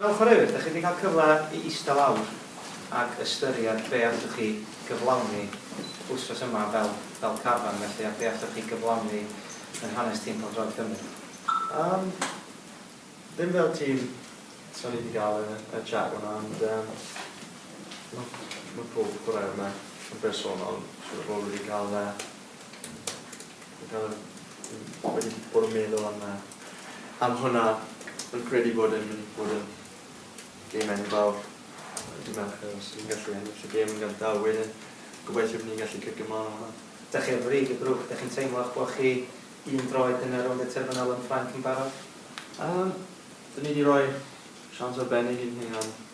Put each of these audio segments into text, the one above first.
Mewn chwaraewyr, dach chi wedi cael cyfle i ista lawr ac ystyried be allwch chi gyflawni wsnos yma fel fel carfan felly a be allwch chi gyflawni yn hanes tîm pêl-droed Cymru? Yym, ddim fel tîm, so ni wedi cael y y chat yma ond yym ma' ma' pob chwaraewr yma yn bersonol siŵr o fod wedi cael yy Dwi wedi bod yn meddwl am yy am hwnna. Fi'n credu bod e'n mynd i fod yn gêm enfawr yy dydd Mercher os ni'n gallu ennill y gêm yn gynta a wedyn gobeithio bo' ni'n gallu cicio mlan o hwnna. Dach chi ar frig y grŵp, dach chi'n teimlo 'ych bo' chi un droed yn y rownd y terfynol yn Ffrainc yn barod? Yym, 'dyn ni 'di roi siawns arbennig i'n hunan.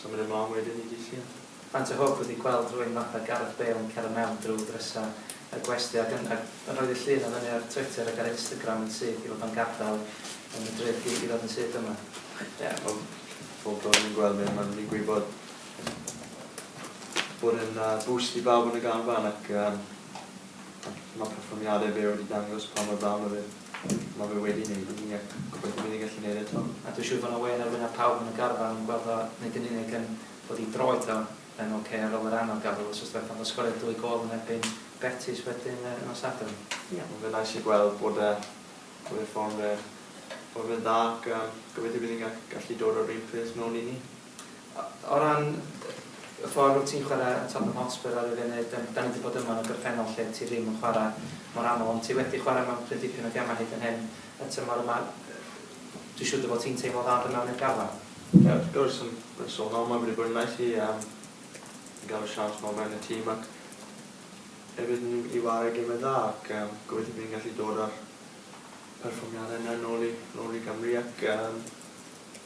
Symud ymlaen wedyn i Dydd Llun. Faint o hwb ydi gweld rhywun fatha Gareth Bale yn cero mewn drw drysa y gwesty ac yn ac yn rhoi Ddydd Llun o fyny ar Twitter ac ar Instagram yn syth i fod o'n gadal y Madrid gig i ddod yn syth yma? Ie, wel, pob tro dwi'n gweld fe ma'n digwydd bod bod e'n yy boost i bawb yn y garfan ac yym ma' perfformiade fe wedi dangos pa mor dda ma' fe. Ma' fe wedi neud i ni ac gobeithio bydd e gallu neud eto. A dwi siŵr fo' 'na wên ar wyneb pawb yn y garfan yn gweld o nid yn unig yn fod 'i dro eto yn ok ar ol yr anodd gafel wsos dwetha ond o sgoriodd dwy gôl yn erbyn Betis wedyn yy nos Sadwrn. Ie ma' fe'n neis i gweld bod e bod ei form fe bod fe'n dda ac yym gobeithio bydd e'n ga- gallu dod o'r un peth nôl i ni. O ran y ffordd wyt ti'n chwarae Tottenham Hotspur ar y funud, dan ni wedi bod yma yn y gorffennol lle ti ddim yn chwarae mor aml, ond ti wedi chwarae mewn cryn dipyn o gemau hyd yn hyn y tymor yma, dwi'n siŵr dy fod ti'n teimlo dda dy mewn i'r garfan? Ie, wrth gwrs, yn bersonol mae'n rili briliant i fi yym i gael y siawns 'ma o fewn y tîm ac hefyd yn i warae gemau dda ac yym gobeithio bydd ni'n gallu dod â'r perfformiadau yna nôl i nôl i Gymru ac yym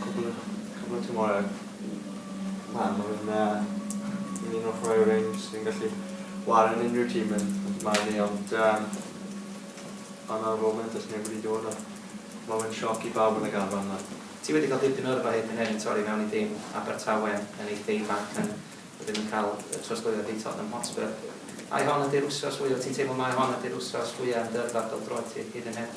Cwpl o, cwpl o tymhorau. Na, ma' fe'n yy, un o'r chwaraewyr range sy'n gallu whare yn unrhyw tîm yn yn fy marn i ond yym ond ar y foment does neb wedi dod a ma' fe'n sioc i bawb yn y garfan nawr. Ti wedi cael dipyn o yrfa hyd yn hyn i torri mewn i dîm Abertawe yn eitha' ifanc yn wedyn yn cael y trosglwyddiad i Tottenham Hotspur. Ai hon ydi'r wsos fwya, ti'n teimlo mai hon ydi'r wsos fwya' yn dy yrfa bêl-droed ti hyd yn hyn?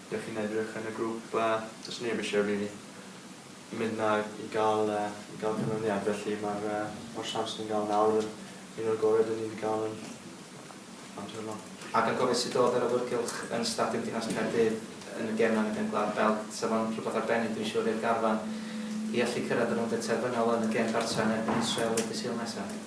Dych chi'n edrych yn y grŵp ble does neb eisiau rili mynd 'na i gael yy i gael canlyniad felly ma'r yy ma'r siawns ni'n gael nawr yn un o'r gorau 'dyn ni 'di gael yn amser yma. Ac a gofid sut o'dd yr awyrgylch yn Stadiwm Dinas Caerdydd yn y gem 'na yn y Gem Gwlad Belg? Sa fo'n rhywbeth arbennig dwi'n siŵr i'r garfan i allu cyrraedd y rownd y terfynol yn y gem gartra yn erbyn Israel y dydd Sul nesa.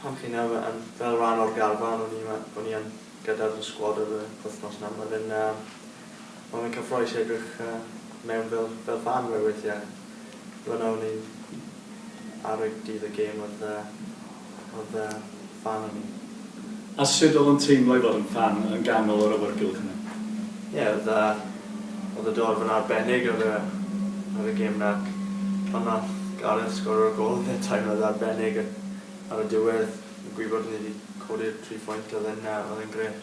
Pan chi'n iawn mae yn fel rhan o'r garfan o'n i mae o'n i yn gyda fy sgwad yr yy wythnos nawr mae fe'n yy mae fe'n cyffroes i edrych yy mewn fel fel fan we- weithiau fynna o'n i ar y dydd y gêm oedd yy oedd yy fan o'n i. A sut oedd o'n teimlo i fod yn ffan yn ganol yr awyrgylch yna? Ie, oedd yy, oedd y dorf yn arbennig ar y, ar y gêm 'na ac pan nath Gareth sgorio'r gol fe teimlodd arbennig ac ar y diwedd, gwybod ni 'di codi'r tri phwynt oedd e'n yy, oedd e'n grêt.